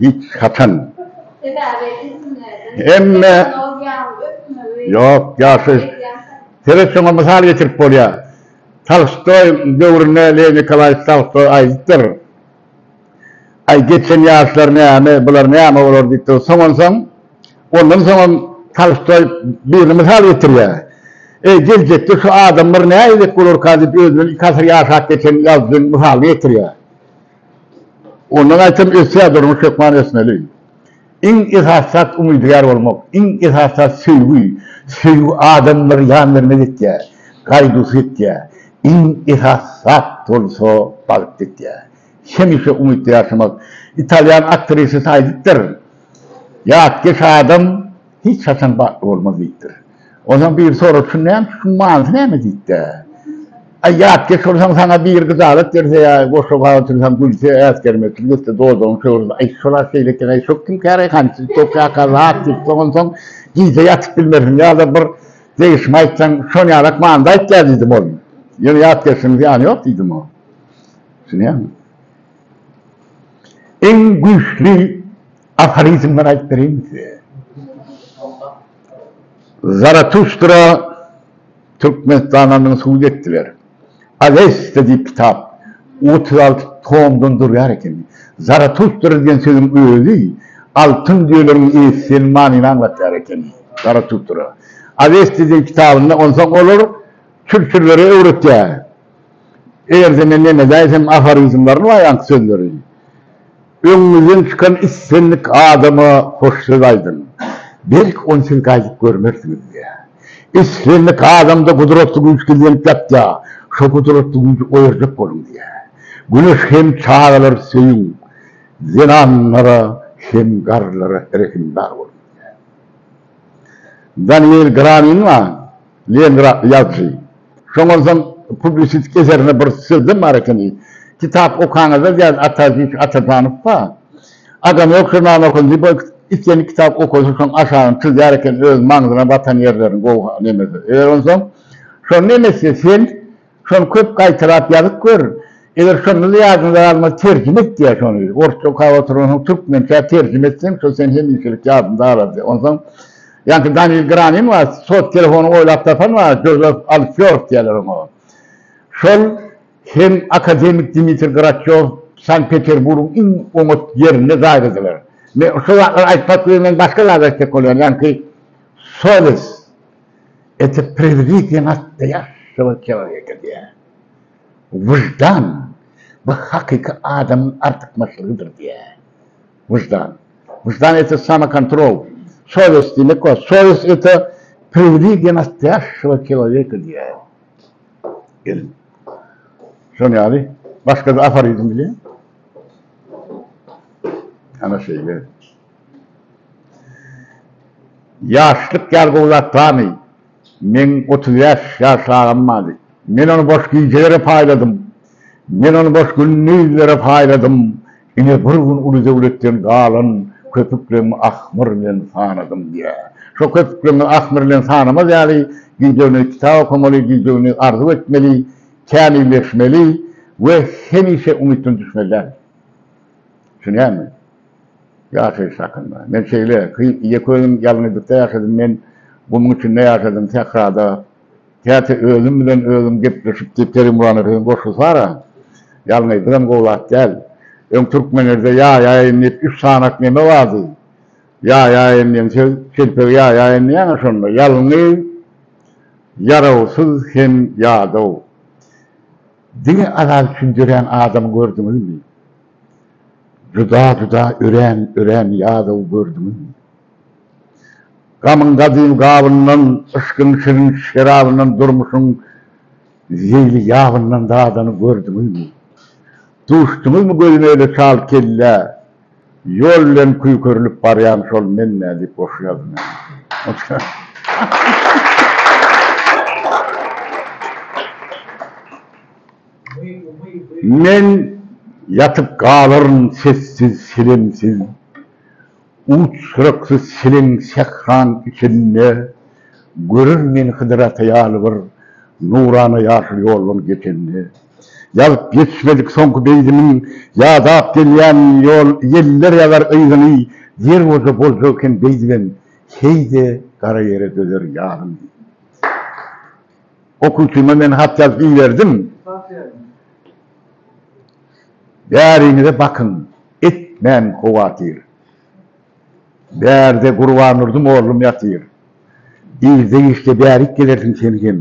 hiç haçan hemme ýok ýaşy sebet şoňa mysal getirip bolýar tolstoý döwründe lew nikolaýewiç tolstoý aýdypdyr aý geçen ýaşlar näme bular näme bolar diýip dur soňansoň ondan soňam tolstoý birini mysal getirýär eý geljekde şu adamlar näedip bolarka diýip özünden iki asyr ýaşap geçen ýazyjyny mysalyny getirýär Ondan aýtsam ösýär durmuş hökman ösmeli. Iň esasy zat umydygär bolmak, iň esasy zat söýgi, söýgi adamlary ýan bermez etýär, gaýduwsyz etýär, iň esasy zat bolsa bagt etýär. Hemişe umytda ýaşamak. Italýan aktrisasy aýdypdyr, Ýatkeş adam hiç haçan bagtly bolmaz diýipdir. Onsoň biri sorapsyr, näme şu gyzyň manysy näme diýip-de. Aý, ýatkeş bolsaň, saňa biri gyjalat berse ýa goşa bag otursaň, gülse, äsgermekçilik etse, dodagyňy sögürse, aý, şol-a şeýle eken, aý, şo kim käre, hançy, tokaýka zat diýip, soňunsoň gije ýatyp bilmersiň ýa-da bir degişme aýtsaň, şon ýalak manyda aýtýa diýdim ol. Ýöne ýatkeşligiň zyýany ýok diýdim o. Düşünýäňmi? Iň güýçli. Aforizmler aýdyp bereyinmi size? Zaratuştra Türkmenistananyň subut etdiler. Awesta diýip kitap otuz alty tomdan durýar eken. Zaratuştra diýen sözüň özi altyn düýeleriň eýesi diýen manyny aňlatýar eken. Zaratuştra. Awesta diýen kitabynda onsoň olar çürçürlere öwretýär. Eger sene nenedaýsem aforizmlaryny we aýanky sözleri. Öňüňizden çykan islendik adama hoş söz aýdyň. Belki ony siz gaýdyp görmersiňiz diýýär. Islendik adamda gudratly güýç gizlenip ýatýar. Şo gudratly güýji oýarjak boluň diýýär. Güneş hem çagalary söýüň, zenanlara hem garrylara rehimdar boluň diýýär. Daniel Gramingma? Leningrad ýazysy. Şoňansoň publisistik eserinde bir sözem bar ekeni, Kitap okaňyzda diýýär Ataziz Atazanow bar. Adam ýok žurnalyny okasyn diýip ol islän kitaby okasyn şoň aşagyny çyzýar eken öz maňzyna batan ýerlerini gowy nemesi. Eger onsoň şony nemesi sen Şony köp gaýtalap ýazyp gör. Eger şonda-da ýadyňda galmasa terjime et ýa şony. Orsça okap oturansoň türkmençä terjime etseň, şo seni hemişelik ýadynda galardy. Onsoň ýaňky Daniýl Granin bar, sot telefonyny oýlap tapan bar, Jozef Alfýord diýerler oňa. Şol hem akademik Dmitri Graçýow Sankt-Peterburgyň iň oňat ýerinde jaýladylar. Men şo zatlary aýtmak bilen men başga zat aýtjak bolýan, ýaňky Soles. Ete prezident atda ýaşamak kebap getirýär. Wyždan, bu hakyky adamyň artykmaçlygydyr diýýär. Wyždan. Wyždan ete samokontrol, sowest diýmek bar. Sowest ete prezident atda ýaşamak kebap getirýär. Gelin. Şol ýaly başga-da aforizm bilýän? Ana şeýle. Ýaşlyk ýar gowy zat barmy? Meň otuz bäş ýaş agam bardy. Men ony boş gijelere paýladym. Men ony boş gündizlere paýladym. Ine, bir gün uly döwletden galan köpükleňi ahmyr bilen sanadym diýýär. Şo köpükleňi ahmyr bilen sanamaz ýaly, gije-gündiz kitap okamaly, gije-gündiz arzuw etmeli, kämilleşmeli we hemişe umytdan düşmeli dälmi? Düşünýärmi? Ýaşaýyş hakynda. Men şeýle, Gyýyk ýeköýüm ýalňyzlykda ýaşadym, men gumuň içinde ýaşadym, sährada. Käte özüm bilen özüm gepleşip diýip Kerim Buranowýň goşgusy bar-a. Ýalňyzlygam gowy zat däl. Öň türkmenlerde ýaýaýyn diýip üç sanaç neme bardy? Ýaýaýyn diýen söz, çelpegi ýaýaýyn diýýäň-ä şonda. Ýalňyz, ýarawsyz hem ýadaw. Diňe azat üçin dörän adamy gördüňizmi? Duda-duda örän-örän ýadaw gördüňizmi? Gamyň gadym gabyndan, yşkyň şirin şerabyndan, durmuşyň zeýli ýabyndan dadany gördüňizmi? Duşduňyzmy gözüme öle çal kellä, ýol bilen küýkerilip barýan şol men-ä diýip goşgy ýazdym ýa-da. Men ýatyp galaryn sessiz, selemsiz, Uç-syraksy çeleň sähraň içinde, Görer meni Hydyr ata ýaly bir Nurana ýaşyl ýoldan geçende. Ýazyp ýetişmedik soňky beýdimiň Ýadap gelýän ýol ýeller ýazar yzyny, Ýer bolsa boljak eken beýdibem, Heý-de gara ýere dözer ýazyny. Okuwçyma men hat ýazyp iberdim. Bäriňize bakyň, etmäň howatyr. Bärde Gurbandurdyň oglum ýatyr. Irde işde bärik gelersiň sen hem.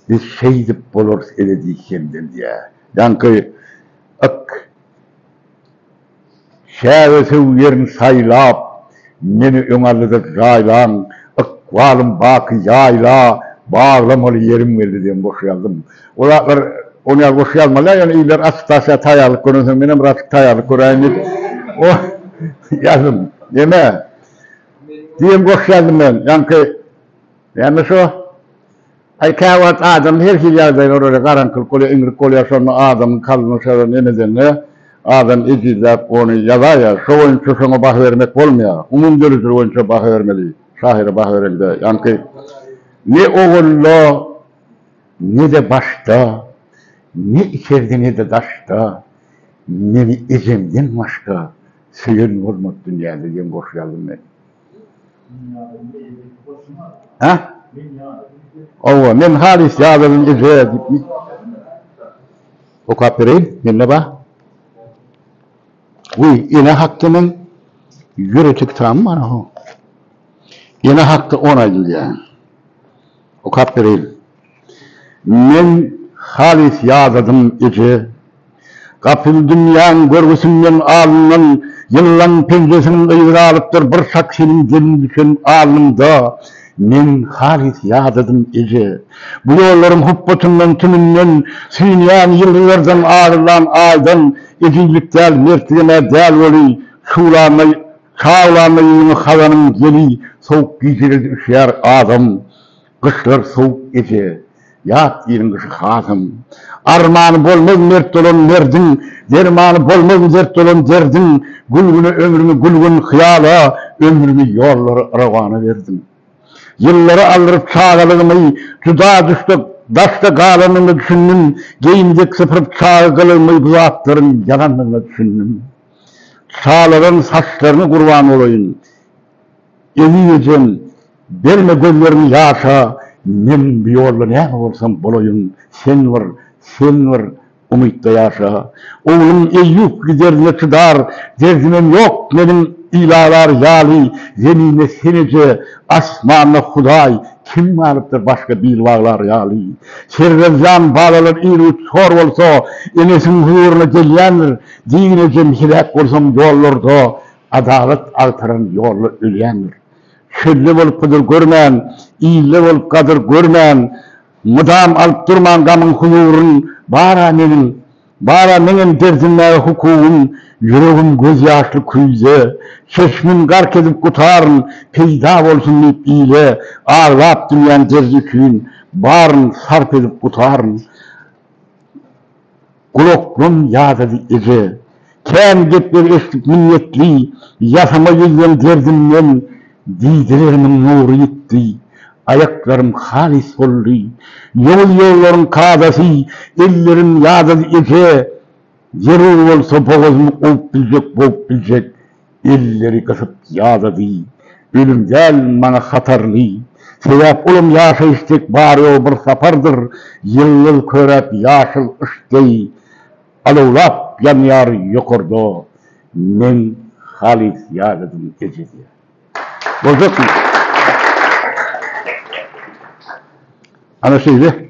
Biz şeýdip bolarys ebedi hemdem diýýär. Ýaňky yk. Säwe-sew ýerin saýlap, Meni öňallyda jaýlaň, Ykbalym baky ýaýla, Baglamaly ýerim geldi diýen goşgy ýazdym. Bu zatlar ony ýaly goşgy ýazmaly-a, ýöne iller attestasiýa taýýarlyk görensoň, menem birazçyk taýýarlyk göräýin diýip, ony ýazdym. Neme? Diýen goşgy ýazdym men. Ýaňky näme şo? Aý käwagt adam her hili ýagdaýa görä garaňkylyk bolýar, iňrik bolýar şonda adamyň kalbynyň şeýle neme edende adam ejizläp ony ýazaýýar. Şo boýunça şoňa baha bermek bolmaýar. Umumy döredijilik boýunça baha bermeli. Şahyra baha berelde ýaňky ne owalda ne-de başda, ne içerde ne-de daşda meni ejemden başga söýen bolmady dünýäde diýen goşgy ýazdym men. Hä? Owa, men halys ýadadym eje diýipmi? Okap bereýin, mende bar. Uý, ene hakda men ýörite kitabym bar. Ene hakda on aýdylýar. Okap bereýin. Men halys ýadadym, eje. Gapyl dünýäň görgüsinden alyndan ýyllaň penjesiniň yzy galypdyr, bir şak seniň gelin düşen alnyňda. Men halys ýadadym, eje. Bu ýollaryň hupbatyndan, tümünden süýnýän ýyldyzlardan, agyrylan Aýdan, ejizlik däl, mertligem-ä däl weli, şuwlamaý, Şa bolanda ýylyň hazanyň ýeli sowuk gijilerde üşýär adam gyşlar sowuk eje ýat ýylyň gyşy hasam armany bolmaz mert dolan merdiň dermany bolmaz dert dolan derdiň gül güne ömrümi gül gün hyýala ömrümi ýollara yrawana berdim ýyllary aldyryp çagalygymy juda düşde daşda galandygyna düşündim geýim dek sypyryp çaga gylygymy bu zatlaryň ýalandygyna düşündim. Şalaryň saçlaryna gurban bolaýyn. Eziz ejem, berme gözleriňi ýaşa, men bu ýolda näme bolsam bolaýyn, sen bir, sen bir umytda ýaşa. Oglum Eýýup giderine çydar derdimem ýok meniň ilalar ýaly zeminde sen eje, asmanda Hudaý kim galypdyr başga bil baglar ýaly. Serwer jan balalar ir-üç hor bolsa enesiň huzuryna gelýändir. Diňe jemsiräp bolsaň ýollarda Adalat agtaran ýolda ölýändir. Çölde bolup gydyr görmän, Ilde bolup gadyr görmän, Mydam alyp durman gamyň huzuryn, Bar-a meniň, bar-a meňem derdinmäge hukugym, Ýüregim gözýaşly küýze, çeşmin gark edip gutaryn, Peýda bolsun diýip ile, aglap dünýäň derdi üçin, Baryn sarp edip gutaryn. Gulaklan, ýazyjy eje! Kän gepleri eşidip minnetli, Ýasama ýüzleň derdimden, Diýdirerimiň nury ýitdi. Aýaklarym halys soldy. Ýowuz ýollaryň kadasy, Ellerim, ýazyjy eje! Zerur bolsa bogazymy Owup biljek, bowup biljek, Elleri gysyp ýadady. Ölüm däl maňa hatarly. Sebäp olam ýaşaýyş dek bar-ýogy bir sapardyr. Ýyldyz köräp ýaşyl yş deý alawlap ýanýar ýokarda. Men halys ýadadym eje diýýär. Boljakmy? Ana şeýle.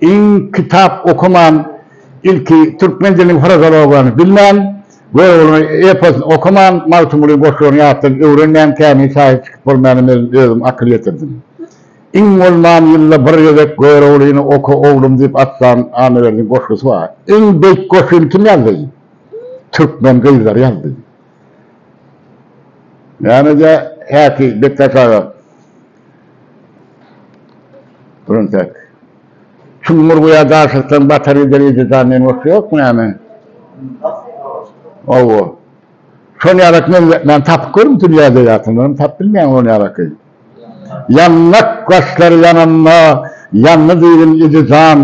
Iň kitap okaman, ilki türkmen diliniň frazeologiýany bilmän, Göroglyň eposyny okaman, Magtymgulyň goşgularyny ýatdan öwrenmän käni şahyr çykyp bolmaýana men özüm akyl ýetirdim. Iň bolman ýylda bir gezek Göroglyny oka oglum diýip atlan Annaberdiň goşgusy bar. Iň beýik goşgyny kim ýazdy? Türkmen gyzlary ýazdy. Nämeje häki Bekdaş aga? Birintek. Çuňňur guýa daşykdan batar gider eje jan diýen goşgy ýokmy näme? Hawa. Şol ýaraky men tapyp görüm dünýäde ýa-da tapyp bilmeýän ol ýaraky. Ýandak gaşlary ýananda, ýandy diýdim, idi jan,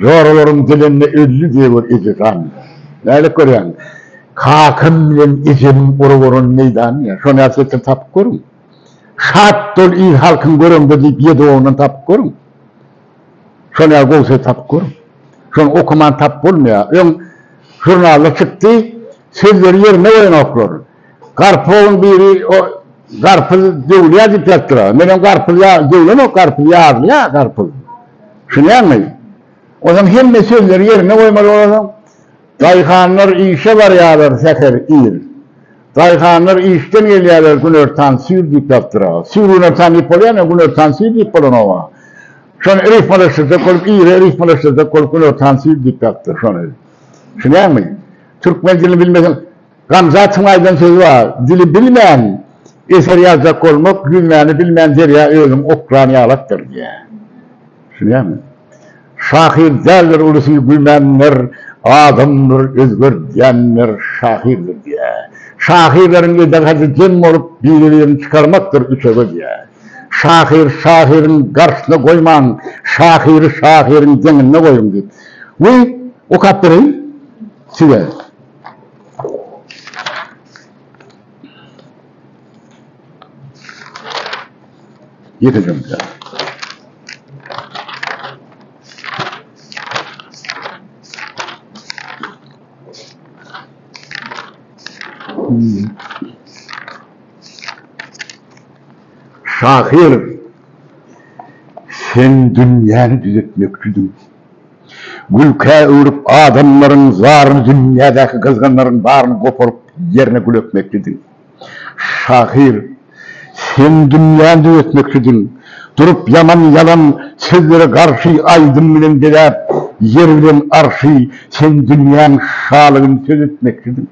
Joralaryň dilinde öldi dewir, idi jan. Nädip görýäň? Kakam bilen ejemiň urup oran meýdany ýa, şony häsiýetli tapyp görüň. Şat bol il-halkyň göreňde diýip ýedi oglan tapyp görüň. Şony ýa gowy söz tapyp gör. Şony okaman tapyp bolmaýar. Öň žurnalda çykdy, sözleri ýerinde goýanoklar. Garpyzowyň biri o garpyz döwülýär diýip ýatyr. Menem garpyz ýa döwlenok garpyz ýarylýar garpyz. Düşünýäňmi? Onsoň hemme sözleri ýerinde goýmaly bolaryň. Daýhanlar işe barýarlar säher ir. Daýhanlar işden gelýärler günortan süýr diýip ýazdyraga. Süýr günortan diýip bolýarmy, günortan süýr diýip bolanogam. Şony rifmalaşdyrjak bolup, ýere rifmalaşdyrjak bolup günortan süýr diýip ýazdyr şony. Düşünýäňmi? Türkmen dilini bilmeseň, Gamzatyň aýdan sözi bar, Dili bilmän eser ýazjak bolmak, ýüzmäni bilmän derýa özüň okran ýalakdyr diýýär. Şunyamy? Şahyr däldir ulusy güýmenler, adamdyr özgerdýänler şahyrdyr diýýär. Şahyrlaryň edegady dem bolup biri-birini çykarmakdyr üçege diýýär. Şahyr şahyryň garşysyna goýmaň, şahyry şahyryň deňinde goýuň diýip. Weý, okap bereýin size. Ýekejem bilen. Şahyr, sen dünýäni düzetmekçidiň. Gülkä öwrüp adamlaryň zaryny dünýädäki gyzganlaryň baryny goparyp ýerine gül ekmekçidiň. Şahyr, sen dünýäni düzetmekçidiň. Durup ýaman ýalan sözlere garşy aýdym bilen bezäp, ýer bilen arşy sen dünýäň şalygyny söz etmekçidiň.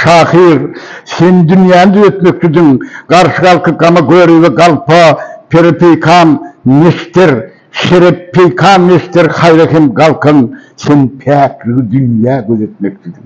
Şahyr, sen dünýäni düzetmekçidiň. Garşy galky gama görübe galpa, pere peýkam neşter, şere peýkam neşter haýra hem galkan sen päkligi dünýä gözetmekçidiň.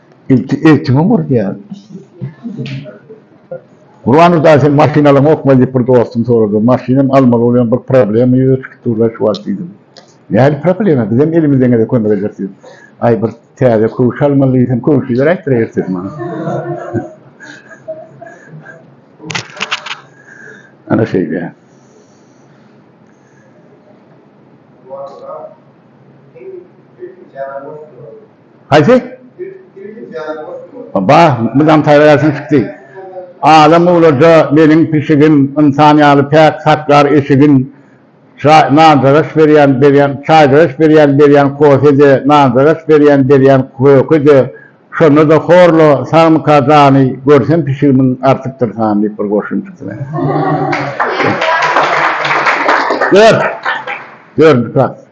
Ilki eltiňe ur diýýär. Gurbannur daýy seň maşynalaryňokmy diýip bir dostum sorady. Maşynam almaly bolýan bir problema ýüze çykyp durlar şu wagt diýdim. Nähili problema bizem elimizdeňede kömek ederis diýdim. Aý bir täze köwşi almaly diýsem köwşileri aýtdyraý ertesi maňa. Ana şeýle. Gurbannur daýy seň sesiň jaňa boş durady. Haýsy? Bah, mydam taýýarlaýarsyň çykdy. Adam uglaja meniň pişigim, ynsan ýaly päk saklar eşigin. Çaý, nanjagaş berýän, berýän, çaýjagaş berýän, berýän kofe-de, nanjagaş berýän, berýän köke-de. Şonda-da horla, sagmyka jany, görsem pişigimiň artykdyr sany diýip bir goşgyny çykdy meniň. Dört. Dördünji klas.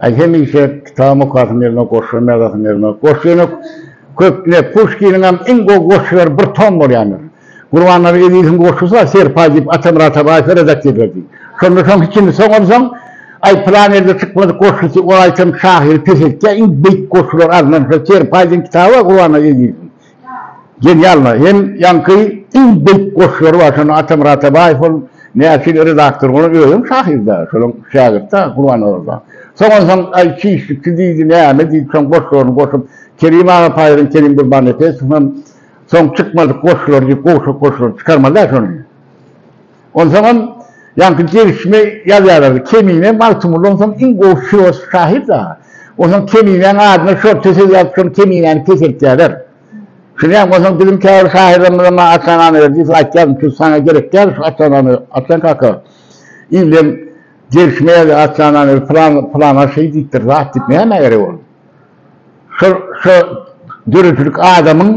Aý hemişe kitabym okasym gelmez, goşgym ýazasym gelmez. Goşgy ýene köp ne Puşkiniňem iň gowy goşgylary bir tom bolýandyr. Gurbannazar Eziziň goşgusy bar, Serpaý diýip Atamyrata Raýfa redaksiýa ederdi. Şonda soň hiçini soňarsoň, Aý pylan ýerde çykmadyk goşgusy ol aýtam şahyry peseltýär, iň beýik goşgular alnan şo Serpaý diýen kitaby bar Gurbannazar Eziziň. Genialno hem ýaňky iň beýik goşgulary bar şonda Atamyrat Atabaýew ol näçe redaktor bolan özem şahyrda şolaň şägirtda Gurbanazarowa soňansoň aý çişlikçi diýdi näme diýdi soň goşgularyny goşup Kerim aga paýran Kerim Gurbannepesow hem soň çykmadyk goşgulary diýip gowşak goşgulary çykarmaly-da şony. Onsoňam ýaňky degişme ýazýarlardy, Kemine Magtymguly onsoň iň gowy filosof şahyr dagy. Onsoň Keminäň adyna şorta söz ýazyp şol Keminäni peseltýärler. Şuňam onsoň biziň käbir şahyrlarymyza maňa Atanana ber diýip aýtýardym, çünki saňa gerek däl şu Atanany, Atjan kaka. Illeň degişme ýazýar Atanana ber, pylan pylan aşyr diýipdir zat diýip, nämä gerek ol? Şu döredijilik adamyň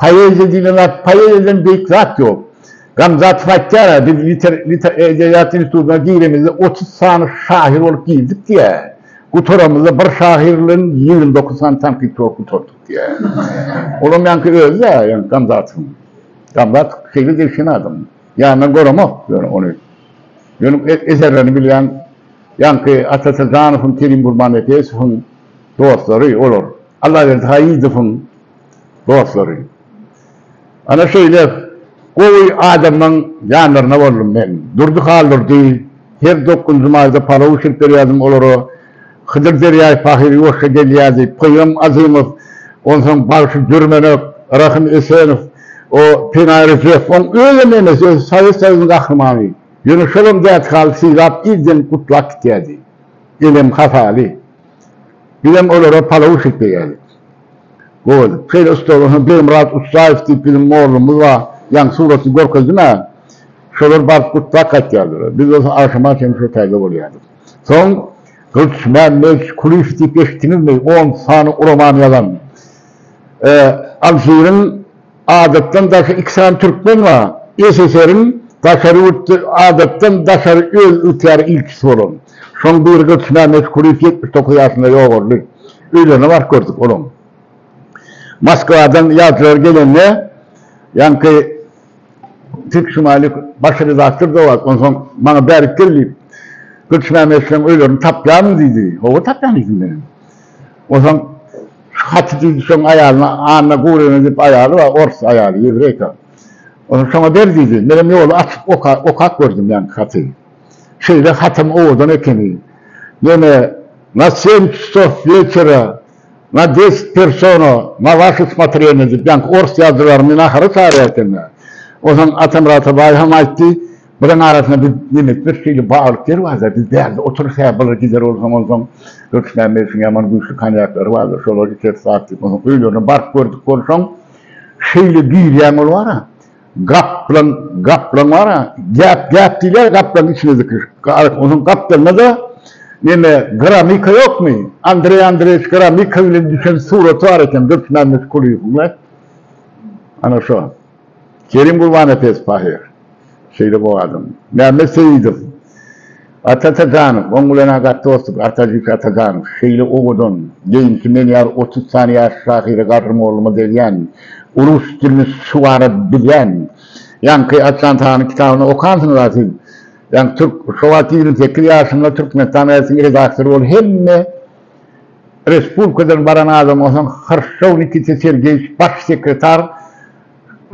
poeziýa diýlen zat, poeziýadan beýik zat ýok. Gamzatow aýtýar-a, biz edebiýat institutyna giremizde otuz sany şahyr bolup girdik diýýär. Gutaramyzda bir şahyr bilen ýigrimi dokuz sany tankytçy bolup gutardyk diýýär. Olam ýaňky özi-dä, ýaňky Gamzatowyň. Gamzatow şeýle degişen adam. Ýanyndan göremok ýöne ony. Ýöne eserlerini bilýän ýaňky Ata Srdanowyň, Kerim Gurbannepesowyň dostlary olar. Allaberdi Haýyýdowyň dostlary. Ana şeýle gowy adamlaň ýanlarynda boldum men. Durdy Haldurdy, her dokgunjy maýda palaw bişirip berýärdim olara. Hydyr derýaý pahyr ýuwaşja gelýär diýip, Pygram Azymow, onsoň bagşy Dürmenek, Rahym Esenow, o Pinaý Rjew, oň özem emes, özi Sowet Soýuzynyň gahrymany. Ýöne şolam dädisi haly sylap, irden gutlap gitýärdi. Elem hasaly. Bizem olara palaw bişirip berýärdik. Gowy edip. Şeýle ussat bolsa Begmyrat Ussaýew diýip biziň mollumyz bar. Ýaňky suratyny görkezdim-ä. Şolar baryp gutlap gaýtýardylar. Biz bolsa agşama çenli şo taýda bolýardyk. Soň Gylyçmämmet Kulyýew diýip eşitdiňizmi? On sany roman ýazan. Alžiriň Adatdan daşary iki sany türkmen bar. SSR-iň daşary ýurtda adatdan daşary öz ýurtlarynyň ilçisi bolan. Şoň biri Gylyçmämmet Kulyýew ýetmiş dokuz ýaşynda ýogaldy. Öýlerine baryp gördük olaň. Moskwadan ýazyjylar gelende ýaňky. Tek şumaýlyk başga redaktor dowat, onsoň maňa bärik gel diýip, Gylyçmämmetleň öýlerini tapýarmyň diýdi. Hawa, tapýan diýdim men hem. Onsoň şu haty diýdi, şoň aýalyna, Anna Gurina diýip aýaly bar, ors aýaly, ýewreýka. Onsoň şoňa ber diýdi. Menem ýoly açyp okap gördüm ýaňky haty. Şeýle hatam owadan ekeni. Ýene Na seň çasov wetera Na deset persona na waše smotrenie diýýänki ors ýazyjylaryny nahara çagyrýar ekeni. Onsoň Atamyrat Atabaýew hem aýtdy, Biziň arasynda biz nemes bir şeýle baglyk ýer barda, biz bärde oturyp hä bylyr gider bolsaň onsoň Hökütmämmediň ýaman güýçli konýaklary bardyr, şolary içeris wagt diýip, onsoň öýlerine baryp gördük bolsaň, şeýle girýäň olary. Gaplaň, gaplaň bar-a, gäp, gäp diýilýär gaplaň içine zikir. Onuň gaplaňda-da neme, Gramika ýokmy? Andreý Andreýewiç Gramika bilen düşen suraty bar eken Dursunmämmet Kulyýewiň we ana şo Kerim Gurbannepesow ahyr şeýle bog adam. Mämmet Seýidow. Ata Ataganow, oň bilen-ä gaty dostluk, Artajik Ataganow, şeýle owadan, deýimçi, men ýaly otuz sany ýaşly şahyra gadrymollygyma degýän, rus dilini şuwara bilýän, ýaňky Açan Tanyň kitabyny okansyňyz-a siz, ýaňky türk, şo wagt ýigrimi sekiz ýaşymda Türkmenistan gazetiň redaktory bolup, hemme respublikadan baran adam bolsaň, Hrşşow Nikita Sergeýewiç, baş sekretar,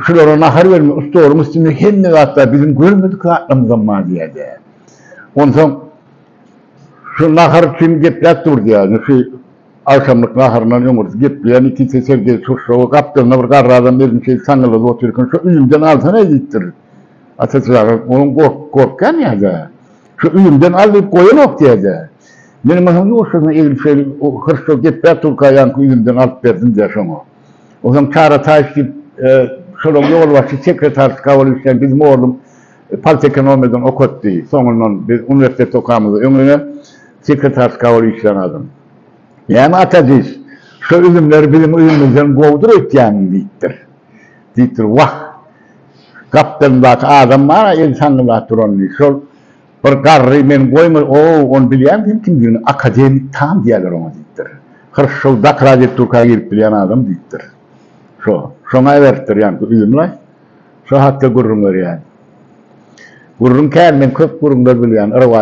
Şulara nahar bermek, stoluň üstünde hemme zat bar, biziň görmedik zatlarymyzam bar diýýärdi. Onsoň şu nahar üçin gepläp dur diýýärdi. Şu agşamlyk naharyndan öň bir gepleýän ikisi Sergeý Turşuwa gapdalynda bir garry adam özüni şeýdip saňňaladyp otyr eken, Şu üýümden alsana diýipdir. Ata çaga onuň gorkýan ýa-da Şu üýümden al diýip goýanok diýýärdi. Meniň atam ýuwaşjadan eglip şeýdip, hyrçlap gepläp durka ýaňky üýümden alyp berdim diýýär şoňa. Onsoň Karataýew diýip, şolaň ýolbaşçy sekretarysy kabul etýän biziň oglum politekonomiýadan okatdy. Soňundan biz uniwersitetde okamyzda öň ýene sekretarysy kabul işlän adam. Näme ata diýs, şo üzümler biziň üzümimizden gowudyr öýtýäňmi diýipdir. Diýipdir, Wah, gapdalymdaky adam bar-a eli saňňyldap duran diýip, şol Bir garry, Men goýma, o-ow, ony bilýän sen kimdigini, akademik Tam diýýärler oňa, diýipdir. Hyrşşyl dak radioturka girip bilýän adam, diýipdir. Şo, şoňa iberipdir ýaňky üzüm-laý. Şo hakda gürrüň berýän. Gürrüň kän, men köp gürrüňler bilýän, yry-wa,